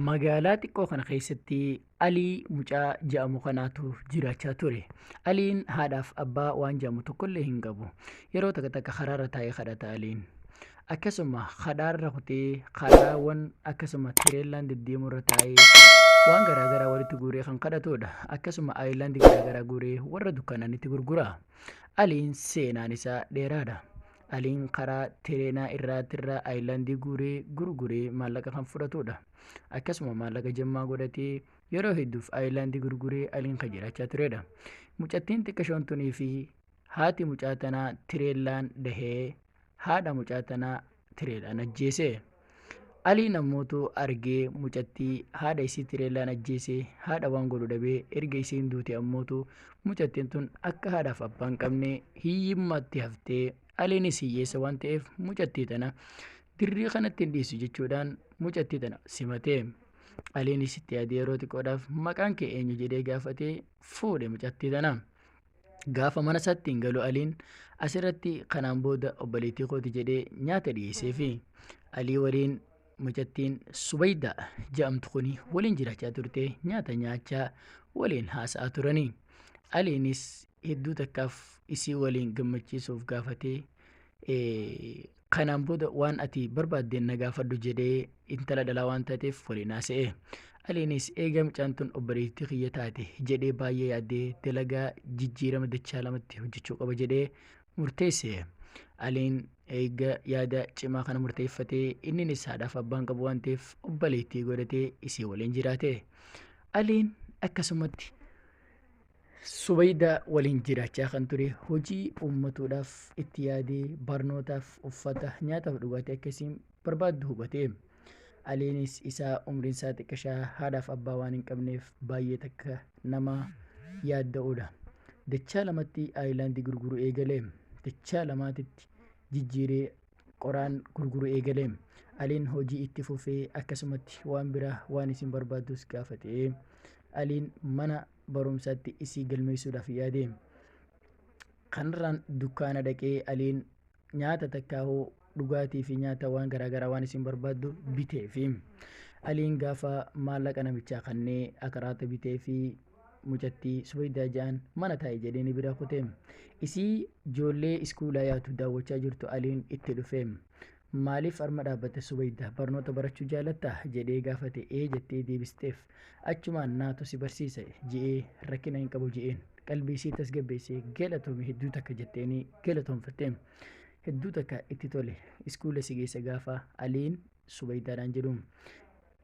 Magaalaa xiqqoo kana keessatti Alii mucaa ja'amu kanaatu jiraachaa ture. Aliin haadhaaf abbaa waan ja'amu tokkollee hin qabu. Yeroo takka takka karaarra taa'ee kadhata Aliin. Akkasuma karaarra kutee karaawwan akkasuma tireellaan deddeemurra taa'ee waan garaagaraa walitti guuree kan kadhatudha. Akkasuma ayilaandii garaagaraa guuree warra dukkaananitti gurgura. Aliin seenaan isaa dheeraadha. Aliin karaa Tireenaa irraatirraa Ayilandii guuree gurguree maallaqa kan fudhatuudha. Akkasuma maallaqa jemmaa godhatee yeroo hedduuf Ayilandii gurguree Aliin kan jiraachaa tureedha. Mucattiin xiqqashoon tunii fi haati mucaa tanaa Tireellaan dahee haadha mucaa tanaa Tireelaan ajjeese. Aliin ammootu argee mucattii haadha isii tireellaan ajjeese haadha waan godhu dhabee erga isiin duute ammootu mucattiin tun akka haadhaaf abbaan qabne hiyyummaatti haftee aliinis hiyyeessa waan ta'eef mucattii tana dirree kanatti hin dhiisu jechuudhaan mucattii tana simate. Aliinis itti yaadee yeroo xiqqoodhaaf maqaan kee eenyu jedhee gaafatee fuudhe mucattii tana. Gaafa mana isaatti hin galu Aliin asirratti kanaan booda obboleettii kooti jedhee nyaata dhiyeesseefi Alii waliin mucattiin Subaydaa jedhamtu kuni waliin jiraachaa turte nyaata nyaachaa waliin haasa'aa turanii. Aliinis hedduu takkaaf isii waliin gammachiisuuf gaafatee Kanaan booda waan ati barbaaddeen na gaafadhu jedhee intala dhalaa waan taateef waliin haasa'e. Aliinis eegaa mucaan tun obboleettii kiyya taate jedhee baay'ee yaadee dalagaa jijjiirama dachaa lamatti hojjechuu qaba jedhee murteesse. Aliin eega yaada cimaa kana murteeffatee inninis haadhaaf abbaan qabu waan ta'eef obboleettii godhatee isii waliin jiraate. Aliin akkasumatti Subaydaa waliin jiraachaa kan ture hojii uummatuudhaaf itti yaadee barnootaaf uffata nyaataaf dhugaatii akka isiin barbaaddu hubate. Aliinis isaa umriin isaa xiqqashaa haadhaaf abbaa waan hin qabneef baay'ee takka nama yaadda'uudha. Dachaa lamatti aayilaandii gurguru eegale. Dachaa lamaatitti jijjiiree qoraan gurguru eegale. Aliin hojii itti fufee akkasumatti waan biraa waan isin barbaaddus gaafate. Aliin mana barumsaatti isii galmeessuudhaaf yaade. Kanarraan dukkaana dhaqee Aliin nyaata takkaahuu dhugaatii fi nyaata waan garaagaraa waan isin barbaaddu bitee fi Aliin gaafa maallaqa namichaa kannee akaraata bitee fi mucattii subaydaa ja'an mana taa'e jedhee ni bira kute. Isii joollee iskuulaa yaatu daawwachaa jirtu Aliin itti dhufe. Maaliif arma dhaabbatte Subayda? Barnoota barachuu jaalattaa? jedhee gaafate. Ee jettee deebisteef. Achumaan naatu si barsiisa je'ee rakkina hin qabu je'een. Qalbii isii tasgabbeessee galatoomi hedduu takka jetteenii galatoomfatte. Hedduu takka itti tole. Iskuula si geessa gaafa Aliin Subaydaadhaan jedhu.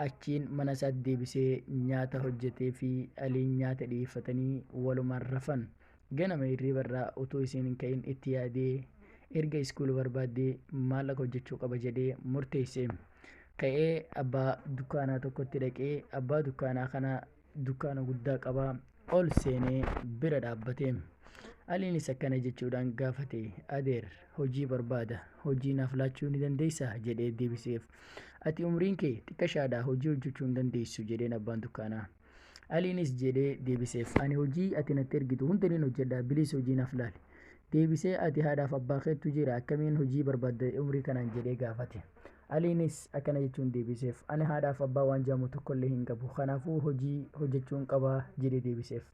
Achiin mana isaatti deebisee nyaata hojjateefii Aliin nyaata dhiyeeffatanii walumaan rafan. Ganama hirriibarraa utuu isiin hin ka'in itti yaadee erga iskuula barbaaddee maallaqa hojjechuu qaba jedhee murteesse. Ka'ee abbaa dukkaanaa tokkotti dhaqee abbaa dukkaanaa kana dukkaana guddaa qaba ol seenee bira dhaabbate. Aliinis akkana jechuudhaan gaafate adeer hojii barbaada hojii naaf laachuu ni dandeessaa jedhee deebiseef. Ati umriin kee xiqqashaadhaa hojii hojjechuu hin dandeessu jedheen abbaan dukkaanaa. Aliinis jedhee deebiseef. Ani hojii ati natti ergitu hunda nin hojjedha, bilis hojii naaf laali. Deebisee ati haadhaaf abbaa keettu jira akkamiin hojii barbaadda umrii kanaan jedhee gaafate. Aliinis akkana jechuun deebiseef. Ani haadhaaf abbaa waan jedhamu tokkollee hin qabu. Kanaafuu hojii hojjechuun qaba jedhee deebiseef.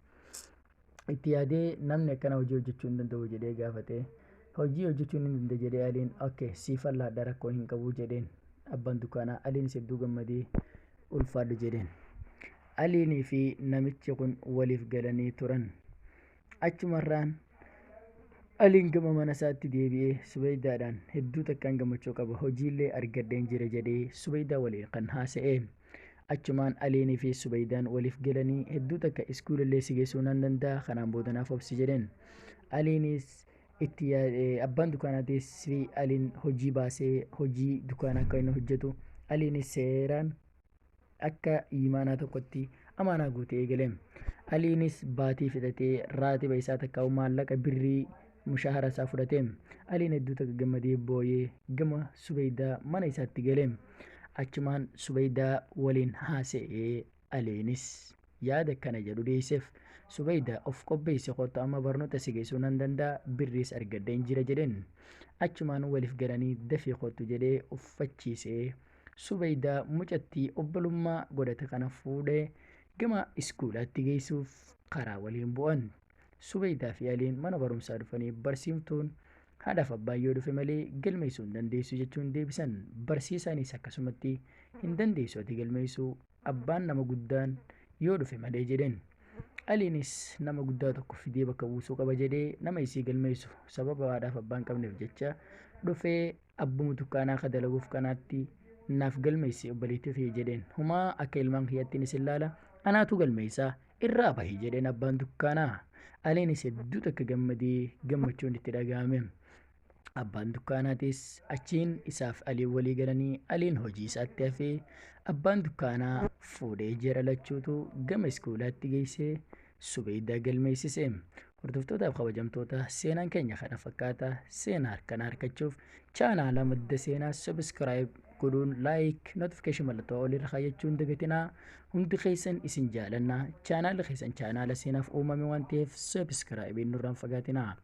itti yaadee namni akkana hojii hojjechuu hin danda'u jedhee gaafate hojii hojjechuu hin danda'e jedhee aliin ok siif allaadha rakkoo hin qabu jedheen abbaan dukkaanaa aliinis hedduu gammadee ulfaadhu jedheen aliinii fi namichi kun waliif galanii turan achumarraan aliin gama mana isaatti deebi'ee subaydaadhaan hedduu takkaan gammachuu qaba hojiillee argadheen jira jedhee subaydaa waliin kan haasa'e Achumaan Aliinii fi Subeydaan waliif galanii hedduu takka iskuulallee si geessuu nan danda'a kanaan booda naaf obsi jedheen. Aliinis itti abbaan dukaanaatis fi Aliin hojii baasee hojii dukaana akka inni hojjetu Aliinis seeraan akka imaanaa tokkotti amaanaa guutee eegale. Aliinis baatii fixatee raatiba isaa takka maallaqa birrii Mushaahara isaa fudhate. Aliin hedduu takka gammadee booyee gama Subeydaa mana isaatti gale. Achumaan Subeydaa waliin haasa'e. Aliinis yaada kana jedhu dhiyeesseef. Subeydaa of qopheessi kottu amma barnoota si geessuu nan danda'a birriis argadheen jira jedheen. Achumaan waliif galanii dafii kottu jedhee uffachiise. Subeydaa mucattii obbolummaa godhate kana fuudhee gama iskuulaatti geessuuf karaa waliin bu'an. Subeydaa fi Aliin mana barumsaa dhufanii barsiiftuun haadhaaf abbaan yoo dhufe malee galmeessuu hin dandeessu jechuun deebisan. Barsiisaanis akkasumatti hin dandeessu ati galmeessuu abbaan nama guddaan yoo dhufe malee jedheen. Aliinis nama guddaa tokko fidee bakka buusuu qaba jedhee nama isii galmeessu sababa haadhaaf abbaan qabneef jecha dhufee abbuma dukkaanaa akka dalaguuf kanaatti naaf galmeessi obboleettii kiyya jedheen humaa akka ilmaan kiyyattiin isin laala anaatu galmeessaa irraa bahi jedheen abbaan dukkaanaa aliinis hedduu takka gammadee gammachuun itti dhaga'ame abbaan dukkaanaatis achiin isaaf aliin walii galanii aliin hojii isaatti hafee abbaan dukkaanaa fuudhee jara lachuutu gama iskuulaatti geessee subeeydaa galmeessise Hordoftootaaf kabajamtoota seenaan keenya kana fakkaata seenaa harkana harkachuuf chaanaala madda seenaa sabiskiraayib godhuun laayik notifikeeshin mallattoo olirra kaayyachuun dagatinaa hundi keessan isin jaalanna chaanaala keessan chaanaala seenaaf uumame waan ta'eef sabiskiraayibiin nurraan fagaatinaa.